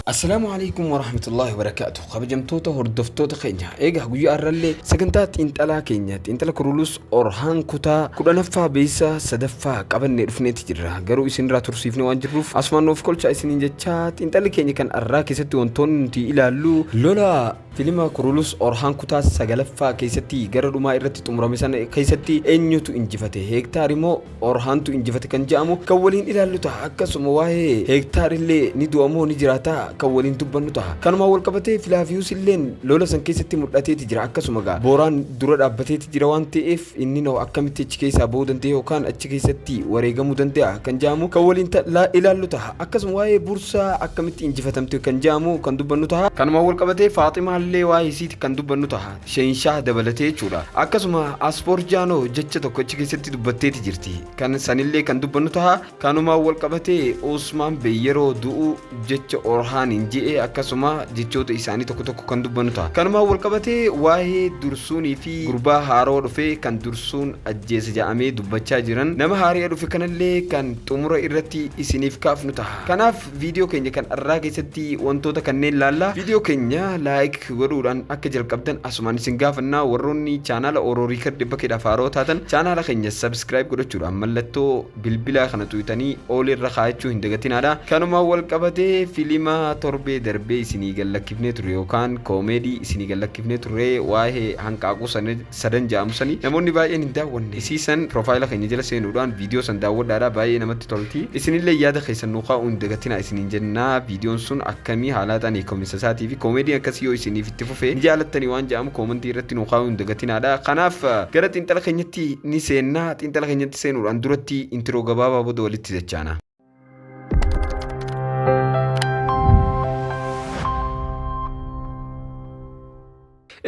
Assalaamu alaikum warahmatullahi wabarakaatu. Kabajamtoota hordoftoota keenya. Egaa guyyaa har'allee sagantaa xiinxalaa keenya xiinxala kurulus Orhaan kutaa kudhanaffaa beeysa sadaffaa qabannee dhufneeti jirra. Garuu isinirraa tursiifne waan jirruuf asumaan nuuf kolchaa isiniin jechaa xiinxalli keenya kan arraa keessatti wantoonni nuti ilaallu lola filima kurulus orhaan kutaa sagalaffaa keessatti gara dhumaa irratti xumurame sana keessatti eenyutu injifate heektaari moo Orhaantu injifate kan jedhamu kan waliin ilaallu ta'a akkasuma waa'ee heektaar illee ni du'a moo ni jiraata kan waliin dubbannu ta'a kanumaan wal qabatee filaafiyuus illeen lola san keessatti mul'ateeti jira akkasuma gaa booraan dura dhaabbateeti jira waan ta'eef inni noo akkamitti achi keessaa ba'uu dandeenya yookaan achi keessatti wareegamuu danda'a kan jedhamu kan waliin ta- la- ilaallu ta'a akkasuma waa'ee bursaa akkamitti injifatamte kan jedhamu kan dubbannu ta'a kanumaan wal qabatee faaximaa illee waa'ee isiiti kan dubbannu ta'a Sheenshah dabalatee jechuudha. Akkasuma Aspoor Jaanoo jecha tokko achi keessatti dubbatteeti jirti. Kan sanillee kan dubbannu taha kanumaan wal qabatee Usmaan Bey yeroo du'u jecha Orhaaniin je'e akkasuma jechoota isaanii tokko tokko kan dubbannu taha. Kanumaan wal qabatee waa'ee dursuunii fi gurbaa haarawa dhufe kan dursuun ajjeese ja'amee dubbachaa jiran nama haari'a dhufe kanallee kan xumura irratti isiniif kaafnu taha. Kanaaf Viidiyoo keenya kan arraa keessatti wantoota kanneen laalla. Viidiyoo keenya laayik godhuudhaan akka jalqabdan asumaan isin gaafanna. Warroonni chaanaala Oro Riikard dhibba keedhaaf haaroo taatan chaanaala keenya sabiskiraayib godhachuudhaan mallattoo bilbilaa kana tuqxanii ool irra kaa'achuu hin dagatinaadha. Kanuma wal qabatee filima torbee darbee isinii gallakkifnee turre yookaan koomeedii isinii gallakkifnee turre waa'ee hanqaaquu sana sadan ja'amu sani namoonni baay'een hin daawwanne isii san piroofaayila keenya jala seenuudhaan viidiyoo san daawwadhaadha baay'ee namatti tolti isinillee yaada keessan nuu kaa'uu hin dagatinaa isiniin jenna viidiyoon sun akkamii haalaataan hiikominsa isaatii fi koomeediin akkasii yoo isiniif itti fufe ni jaalattanii waan ja'amu koomantii irratti nuu kaa'uu hin dagatinaadha kanaaf gara xiinxala keenyatti ni seenna xiinxala keenyatti seenuudhaan duratti intiroo gabaabaa booda walitti dachaana.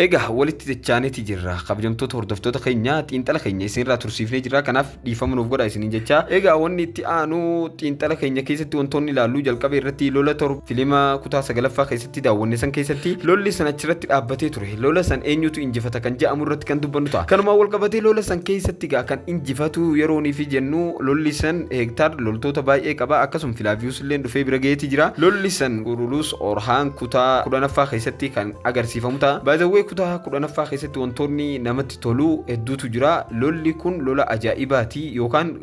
Egaa walitti jechaaniiti jirra. Kabajamtoota hordoftoota keenya xiinxala keenya isinirraa tursiifnee jirra. Kanaaf dhiifama nuuf godha isiniin jecha. Egaa wanni itti aanu xiinxala keenya keessatti wantoonni ilaallu jalqaba irratti lola torba filima kutaa sagalaffaa keessatti daawwanne san keessatti lolli san achirratti dhaabbatee ture. Lola san eenyutu injifata kan ja'amu irratti kan dubbannu ta'a. Kanumaan wal qabatee lola san keessatti gaa kan injifatu yerooniifi jennu lolli san Hektaar loltoota baay'ee qaba akkasum Filaaviyuus illeen dhufee bira ga'eeti jira. Lolli san Quruluus Orhaan kutaa kudhanaffaa keessatti kan agarsiifamu ta'a. By the way kutaa kudhanaffaa keessatti wantoonni namatti tolu hedduutu jira. Lolli kun lola ajaa'ibaati yookaan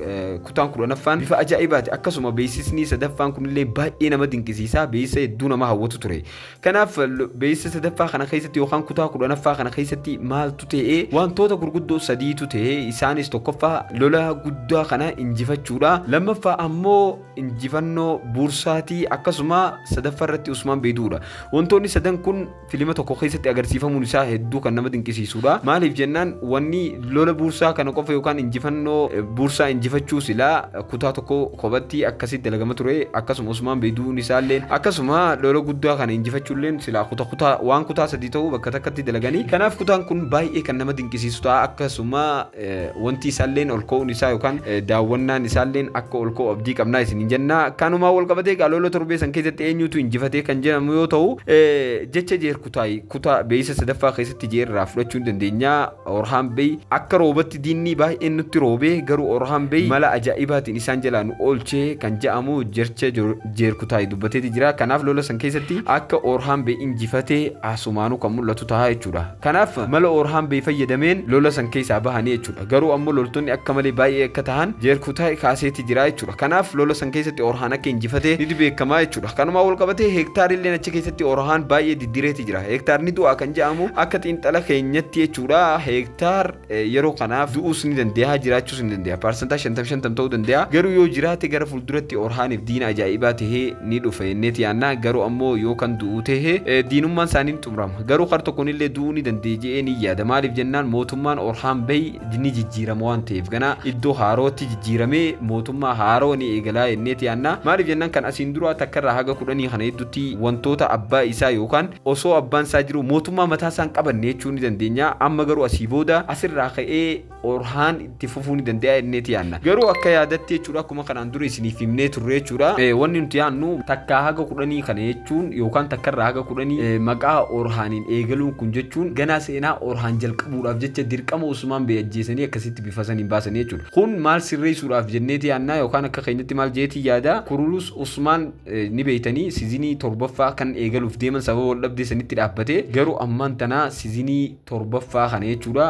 kutaan kudhanaffaan bifa ajaa'ibaati akkasuma beeksisni sadaffaan kunillee baay'ee nama dinqisiisa beeksisa hedduu nama hawwatu ture. Kanaaf beeysa sadaffaa kana keessatti yookaan kutaa kudhanaffaa kana keessatti maaltu ta'e wantoota gurguddoo sadiitu ta'e isaanis tokkoffaa lola guddaa kana injifachuudha lammaffaa ammoo injifannoo buursaatii akkasuma sadaffaa irratti Usmaan Beeduudha wantoonni sadan kun filima tokko keessatti agarsiifamuun isaa hedduu kan nama dinqisiisuudha maaliif jennaan wanni Lola buursaa kana qofa yookaan injifannoo buursaa injifachuu silaa kutaa tokko kophatti akkasitti dalagama ture akkasuma Usmaan Bey du'uun isaalleen akkasuma lola guddaa kana injifachuulleen silaa kuta kutaa waan kutaa sadii ta'uu bakka takkatti dalaganii kanaaf kutaan kun baay'ee kan nama dinqisiisu ta'a akkasuma wanti isaalleen ol ka'uun isaa yookaan daawwannaan isaalleen akka ol ka'u abdii qabnaa isin hin jennaa kanumaa wal qabatee egaa lola torbee san keessatti eenyutu injifatee kan jedhamu yoo ta'u jecha Kutaay kutaa beeysa sadaffaa keessatti jee irraa fudhachuu ni dandeenya. Orhaan Bey akka roobatti diinnii baay'een nutti roobee garuu Orhaan Bey mala ajaa'ibaatiin isaan jalaa nu oolche kan ja'amu jercha Jeer Kutaay dubbateeti jira. Kanaaf lola san keessatti akka Orhaan Bey injifate asumaanuu kan mul'atu tahaa jechuudha. Kanaaf mala Orhaan Bey fayyadameen lola san keessaa bahanii jechuudha. Garuu ammoo loltoonni akka malee baay'ee akka tahan Jeer Kutaay kaaseeti jira jechuudha. Kanaaf lola san keessatti Orhaan akka injifate niti beekamaa jechuudha. Kanumaan walqabatee heektaariilleen achi keessatti orahaan baay'ee diddireeti jira. Heektaarni du'a kan jedhamu akka xiinxala keenyatti jechuudha heektaar yeroo kanaaf du'uus ni danda'a jiraachuus ni danda'a. Paarsantaa shantam shantam ta'uu danda'a. Garuu yoo jiraate gara fuulduratti orahaaniif diina ajaa'ibaa tahee ni dhufa jenneeti yaanna. Garuu ammoo yoo kan du'u tahe diinummaan isaanii ni xumurama. Garuu kar tokkonillee du'uu ni danda'a jedhee ni yaada. Maaliif jennaan mootummaan orhaan bahi ni jijjiirama waan ta'eef ganaa iddoo haarootti jijjiiramee mootummaa haaroo ni eegalaa jenneeti yaanna maaliif jennaan kan asiin duraa takkarraa haga kudhanii kana hedduutti wantoota abbaa isaa yookaan osoo abbaan isaa jiru mootummaa mataa isaan qabanne jechuu ni dandeenya amma garuu asii booda asirraa ka'ee orhaan itti fufuu ni danda'a jenneeti yaanna garuu akka yaadatti jechuudha akkuma kanaan dura isiniif himnee turre jechuudha. Wanni nuti yaannu takkaa haga kudhanii kana jechuun yookaan takkarraa haga kudhanii maqaa Orhaaniin eegaluun kun jechuun ganaa seenaa Orhaan jalqabuudhaaf jecha dirqama Usmaan Bey ajjeesanii akkasitti bifa saniin baasanii jechuudha. Kun maal sirreessuudhaaf jenneeti yaannaa yookaan akka keenyatti maal jeetiin yaada Kurulus Usmaan ni beeytanii sizinii torbaffaa kan eegaluuf deeman sababa wal dhabdee sanitti dhaabbatee garuu ammaan tana sizinii torbaffaa kana jechuudha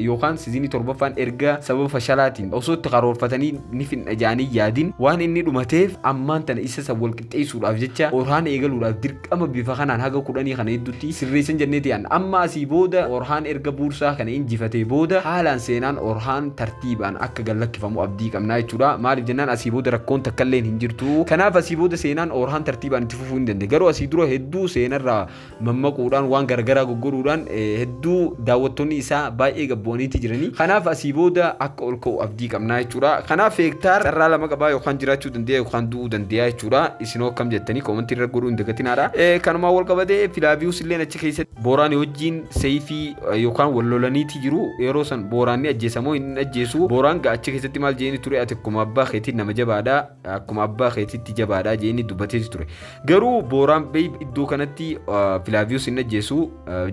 yookaan sizinii torbaffaan erga sababa fashalaatiin osoo itti karoorfatanii ni finna jedhanii yaadin waan inni dhumateef ammaan tana isa san wal qixxeessuudhaaf jecha orhaan eegaluudhaaf dirqama bifa kanaan haga kudhanii kana hedduutti sirreessan jennee ta'an amma asii booda orhaan erga buursaa kana injifatee booda haalaan seenaan orhaan tartiibaan akka gallakkifamu abdii qabnaa jechuudha maaliif jennaan asii booda rakkoon takkalleen hin jirtu kanaaf asii booda seenaan orhaan tartiibaan itti fufuu hin danda'e garuu asii dura hedduu seenarraa mammaquudhaan waan garagaraa goggoruudhaan hedduu daawwattoonni isaa baay'ee gabbu'aniiti jiranii. Kanaaf asii booda akka ol ka'u abdii qabnaa jechuudha. Kanaaf hektaar carraa lama qabaa yookaan jiraachuu dandeeya yookaan du'uu dandeeya jechuudha. Isinoo akkam jettanii koomantii irra godhuu hin dagatinaadha. Kanumaan wal qabatee Filaaviyuus illeen achi keessatti Booraanii wajjin seeyfii yookaan wal lolaniiti jiru. Yeroo san Booraan ni ajjeesamoo hin ajjeesu. Booraan achi keessatti maal jeeni ture ati akkuma abbaa keetiin nama jabaadha. akkuma abbaa keetitti jabaadha jeeni dubbateeti ture. Garuu Booraan Beey iddoo kanatti Filaaviyus hin ajjeesu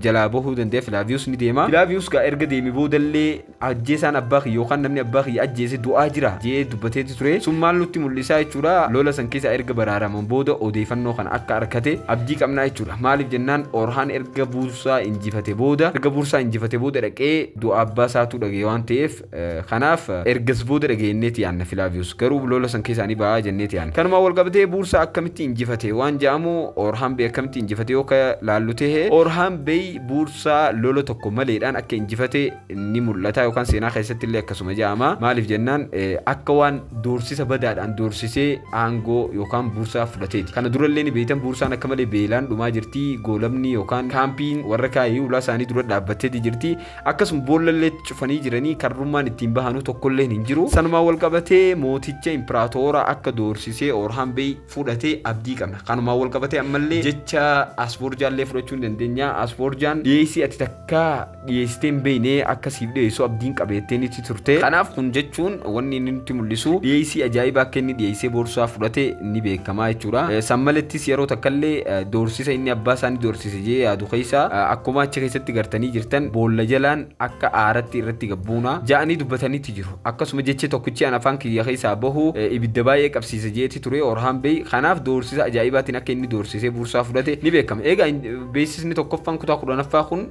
jalaa bahuu danda'a Filaaviyus ni deema. Filaaviyus gaa erga deeme boodallee ajjeesaan abbaa kiyya yookaan namni abbaa kiyya ajjeese du'aa jira jee dubbateeti ture. Sun maal nutti mul'isaa jechuudha lola san keessa erga baraaraman booda odeeffannoo kana akka arkate abdii qabnaa jechuudha. Maaliif jennaan Orhaan erga buursaa injifate booda erga buursaa injifate booda dhaqee du'a abbaa isaatuu dhaga'e waan ta'eef Kanaaf ergas booda dhagayenneeti yaanna Filaaviyus garuu lola san keessaa ni ba'a jenneeti yaanna. Kanumaan wal qabatee Buursaa akkamitti injifate waan ja'amu Oorhaambey akkamitti injifate yoo ka laallu tehe Oorhaambey Buursaa lola tokko maleedhaan akka injifate ni mul'ata yookaan seenaa keessatti illee akkasuma ja'ama. Maaliif jennaan akka waan doorsisa badaadhaan doorsisee aangoo yookaan Buursaa fudhateeti. Kana dura illee ni beeytan Buursaan akka malee beelaan dhumaa jirti. Goolabni yookaan kaampiin warra Kaayii ulaa isaanii dura dhaabbatteeti jirti. Akkasuma boollallee itti cufanii jiranii karrummaan ittiin bahanuu tokkolleen hin jiru. Sanumaan wal qabatee mooticha impiraatoora akka doorsisee Oorhaan Beey fudhate abdii qabna. Kanumaan wal qabatee ammallee jecha Asboorjaallee fudhachuu ni dandeenya. Asboorjaan dhiyeessii ati takka dhiyeessitee hin beekne akka siif dhiyeessu abdiin qaba jettee nitti turte. Kanaaf kun jechuun wanni inni nutti mul'isu dhiyeessii ajaa'ibaa akka inni dhiyeessee boorsaa fudhate ni beekama jechuudha. San malettis yeroo takkallee doorsisa inni abbaa isaa ni doorsise. jee yaadu keessa akkuma achi keessatti gartanii jirtan boolla jalaan akka aaratti irratti gabbuuna ja'anii dubbatanitti jiru akkasuma jechi tokkichi an afaan kiyya keessaa bahu ibidda baay'ee qabsiisa jeeti ture orhaan beey kanaaf doorsisa ajaa'ibaatiin akka inni doorsisee buursaa fudhate ni beekama eegaa beeksisni tokkoffaan kutaa kudhanaffaa kun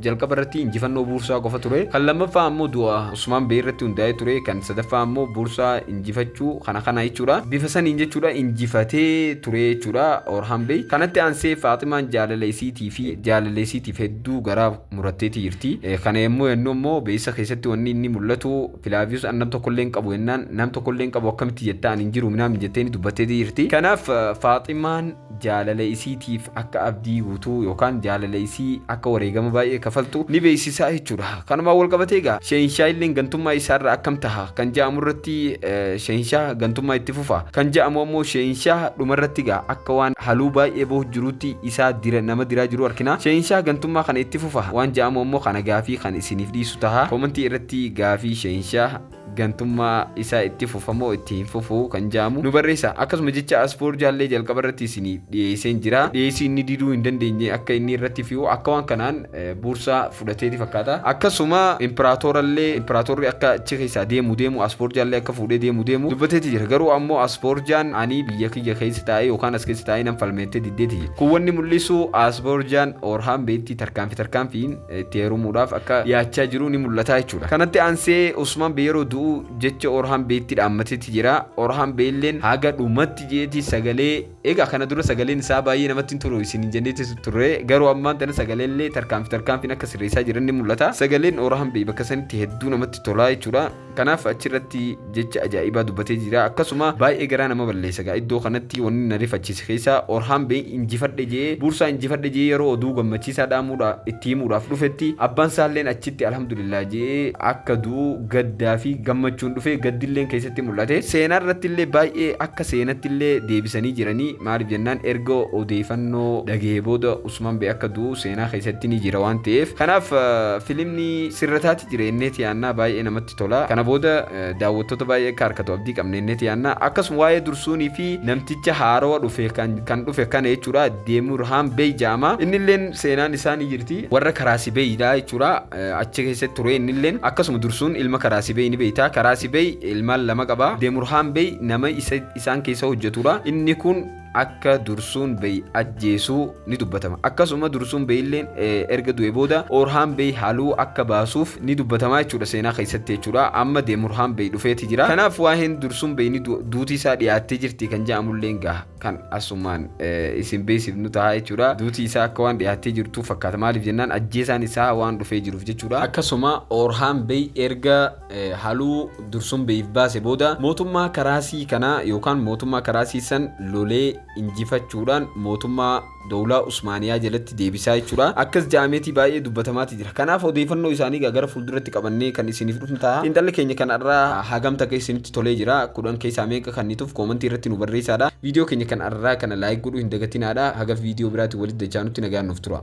jalqaba irratti injifannoo buursaa qofa ture kan lammaffaa ammoo du'a usmaan beey irratti hundaa'ee ture kan sadaffaa ammoo buursaa injifachuu kana kana jechuudha bifa saniin jechuudha injifatee turee jechuudha or hambee kanatti aansee faaximaan jaalala isiitii fi jaalala isiitiif hedduu garaa muratteetii jirti kana yommuu yennuu immoo beessa keessatti wanni inni mul'atu filaaviyus an nam tokkollee hin qabu yennaan nam tokkollee hin qabu akkamitti jettaa an hin jiru minaam jetteeni dubbatteetii jirti kanaaf faaximaan jaalala isiitiif akka abdii guutuu yookaan jaalala isii akka wareegama baay'ee kafaltu ni beeksisaa jechuudha. Kanumaan wal qabatee egaa Shehinshaa illeen gantummaa isaarra akkam taha kan ja'amu irratti Shehinshaa gantummaa itti fufa. Kan ja'amu ammoo Shehinshaa dhumarratti egaa akka waan haluu baay'ee bahu jiruutti isaa dira nama diraa jiru arkina. Shehinshaa gantummaa kana itti fufa waan ja'amu ammoo kana gaafii kan isiniif dhiisu taha. Koomantii irratti gaafii Shehinshaa gantummaa isaa itti fufa moo itti hin fufu kan ja'amu nu barreessaa. Akkasuma jecha as for jaallee jalqaba irratti isiniif dhiyeesseen jira. Dhiyeessii inni diduu hin dandeenye akka inni irratti fi'u akka waan kanaan buursaa fudhateeti fakkaata. Akkasuma imperaatoora illee imperaatoorri akka achi keessaa deemu deemu as for jaallee akka fuudhee deemu deemu dubbateeti jira. Garuu ammoo as for jaan ani biyya kiyya keessa taa'ee yookaan as keessa taa'ee nan falmeettee diddeeti jira. Kun wanni mul'isu as for jaan Oorhaan beetti tarkaanfi tarkaanfiin itti heerumuudhaaf akka dhiyaachaa jiru ni mul'ata jechuudha. Kanatti aansee Usmaan Bey yeroo du'u jecha Orhaan Beyitti dhaammatetti jira. Orhaan Beyilleen haga dhumatti jeeti sagalee egaa kana dura sagaleen isaa baay'ee namatti hin tolu isiniin jenneetti turre garuu ammaan tana sagaleellee tarkaanfi tarkaanfiin akka sirreessaa jiran ni mul'ata. Sagaleen Orhaan Bey bakka sanitti hedduu namatti tolaa jechuudha. Kanaaf achi irratti jecha ajaa'ibaa dubbatee jira. Akkasuma baay'ee garaa nama balleessa gaa iddoo kanatti wanni na rifachiise keessa Orhaan Bey injifadhe je'ee Buursaa injifadhe je'ee yeroo oduu gammachiisaa dhaamuudha itti himuudhaaf dhufetti abbaan saalleen achitti Alhamdulillaah je'ee akka du'u gaddaa fi gammachuun dhufe gaddilleen keessatti mul'ate. Seenaa irrattillee baay'ee akka seenattillee deebisanii jiranii maaliif jennaan erga odeeyfannoo dhagahe booda Usman B akka du'u seenaa keessatti ni jira waan ta'eef kanaaf filimni sirra taati jira ennee tiyaannaa baay'ee namatti tola kana booda daawwattoota baay'ee akka harkatu abdii qabna ennee tiyaannaa akkasuma waa'ee dursuunii fi namticha haarawa dhufe kan dhufe kana jechuudha deemur haan beey ja'ama innilleen seenaan isaa ni jirti warra karaasi beeyidha jechuudha achi keessatti ture innilleen akkasuma dursuun ilma karaasi beey ni beeyta karaasi beey ilmaan lama qaba deemur haan beey nama isaan keessa hojjetudha inni kun akka dursuun beey ajjeesuu ni dubbatama akkasuma dursuun beeyilleen erga du'e booda orhaan beey haluu akka baasuuf ni dubbatama jechuudha seenaa keessatti jechuudha amma deemurhaan beey dhufeeti jira kanaaf waa'een dursuun beeyni duutii isaa dhiyaattee jirti kan jedhamulleen gaha kan asumaan isin beeksifnu ta'a jechuudha duutii isaa akka waan dhiyaattee jirtu fakkaata maaliif jennaan ajjeesaan isaa waan dhufee jiruuf jechuudha akkasuma orhaan beey erga haluu dursun beif baase booda mootummaa karaasii kana yookaan mootummaa karaasii san lolee injifachuudhaan mootummaa dowlaa usmaaniyaa jalatti deebisaa jechuudha akkas ja'ameetii baay'ee dubbatamaati jira kanaaf odeeffannoo isaanii gaa gara fuulduratti qabannee kan isiniif dhufnu ta'a xiinxalli keenya kan arraa hagam takka isinitti tolee jira kudhan keessaa meeqa kan nituuf koomantii irratti nu barreessaadha viidiyoo keenya kan arraa kana laayik godhuu hin dagatinaadha haga viidiyoo biraati walitti dachaanutti nagaan nuuf tura